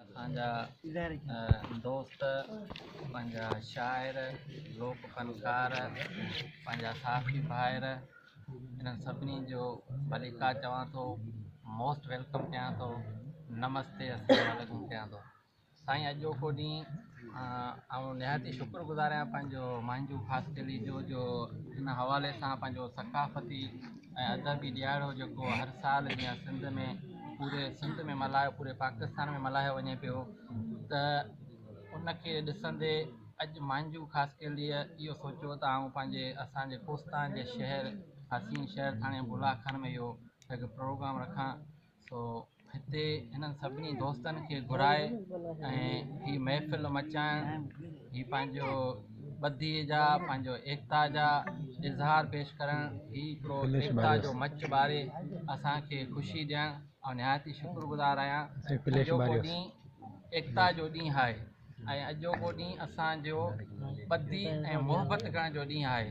اسانجا دوست پنهنجا شاعر لوڪ فنڪار پنهنجا صحافي ڀائر انهن سڀني جو ڀليڪا چوان ٿو موسٽ ويلڪم ڪيان ٿو نمستي السلام عليڪم ڪيان ٿو سائين اڄوڪو ڏينهن آئون نهايت ئي شڪر گذار آهيان پنهنجو مانجهو خاص قلعي جو جو ان حوالي سان پنهنجو ثقافتي ۽ ادبي ڏيهاڙو جيڪو هر سال جيئن سنڌ ۾ پوري سنڌ ۾ ملهايو پوري پاڪستان ۾ ملهايو وڃي پيو ته ان کي ڏسندي اڄ مانجهو خاص قلعي اهو سوچيو ته آئون پنهنجي اسانجي ڪوستان جي شهر حسين شهر ٿاڻي بلها خان ۾ اهو هڪ پروگرام رکان سو هتي هنن سڀني دوستن کي گهرائي ۽ هي محفل مچائڻ هي پنهنجو ٻڌي جا پنهنجو ايڪتا جا اظهار پيش ڪرڻ هي هڪڙو ايڪتا جو مچ ٻاري اسان کي خوشي ڏيڻ آئون نهايت ئي شڪر گذار آهيان اڄوڪو ڏينهن ايڪتا جو ڏينهن آهي ۽ اڄوڪو ڏينهن اسان جو ٻڌي ۽ محبت ڪرڻ جو ڏينهن آهي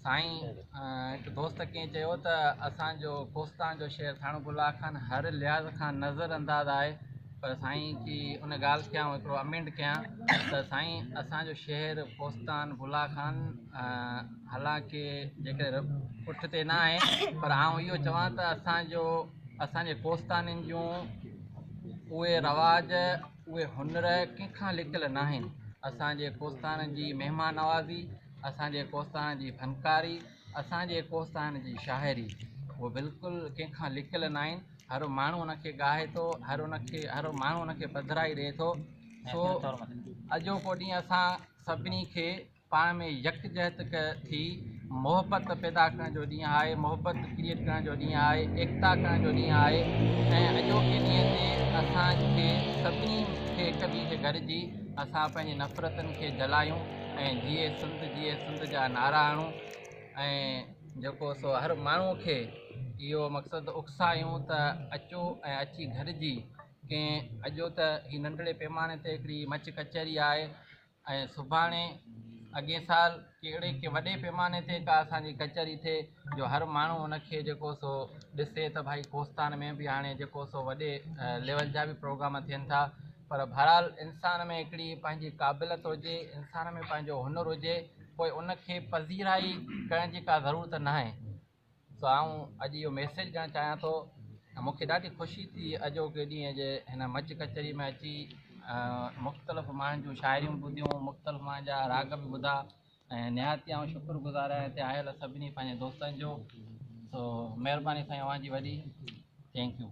سائين هڪ دوست ڪنهن چيو ته اسان جو ڪوستان جو شهر ٿاڻو گلا خان هر لحاظ کان نظر انداز آهي پر سائين جي ان ڳالهه کي آئون هڪڙو امينڊ ڪيان ته سائين اسان جو شهر ڪوستان گلا خان حالانڪه جيڪڏهن پٺ تي نه آهي پر آئون اهو چوان ته اسان جو اسان جي ڪوستانين جون اهي رواج اهي هنر ڪنهن کان لڪل ناهن، اسان جي ڪوستانن جي مهمان نوازي، اسان جي ڪوستانن جي فنڪاري، اسان جي ڪوستانن جي شاعري اهي بلڪل ڪنهن کان لڪل ناهن، هر ماڻهو ان کي ڳاهي ٿو، هر ان کي هر ماڻهو ان کي پڌرائي ڏئي ٿو، سو اڄوڪو ڏينهن اسان سڀني کي. پاڻ ۾ يڪجهت ٿي محبت پيدا ڪرڻ جو ڏينهن آهي محبت ڪريٽ ڪرڻ جو ڏينهن آهي ايڪتا ڪرڻ جو ڏينهن آهي ۽ اڄوڪي ڏينهن تي اسان کي سڀني کي هڪ ٻئي کي گڏجي اسان پنهنجي نفرتن کي جلايون ۽ جيئي سنڌ جيئي سنڌ جا نعرا هڻون ۽ جيڪو سو هر ماڻهو کي اهو مقصد اڪسايون ته اچو ۽ اچي گڏجي ڪنهن اڄو ته هي ننڍڙي پيماني تي هڪڙي مچ ڪچهري آهي ۽ سڀاڻي اڳئين سال ڪهڙي ڪي وڏي پيماني تي ڪا اسان جي ڪچهري ٿئي جو هر ماڻهو ان کي جيڪو سو ڏسي ته ڀائي ڪوستان ۾ به هاڻي جيڪو سو وڏي ليول جا به پروگرام ٿين ٿا پر بهرحال انسان ۾ هڪڙي پنهنجي قابليت هجي انسان ۾ پنهنجو هنر هجي پوء ان کي پذيرائي ڪرڻ جي ڪا ضرورت ناهي سو آئون اڄ اهو ميسيج ڏيڻ چاهيان ٿو ته مون کي ڏاڍي خوشي ٿي اڄوڪي ڏينهن جي هن مچ ڪچهري ۾ اچي مختلف ماڻهن جون شاعريون ٻڌيون مختلف ماڻهن جا راڳ به ٻڌا ۽ نهايت آئون شڪر گذار آهيان هتي آيل سڀني پنهنجن دوستن جو سو مهرباني سائين اوهان جي وڏي ٿينڪ يو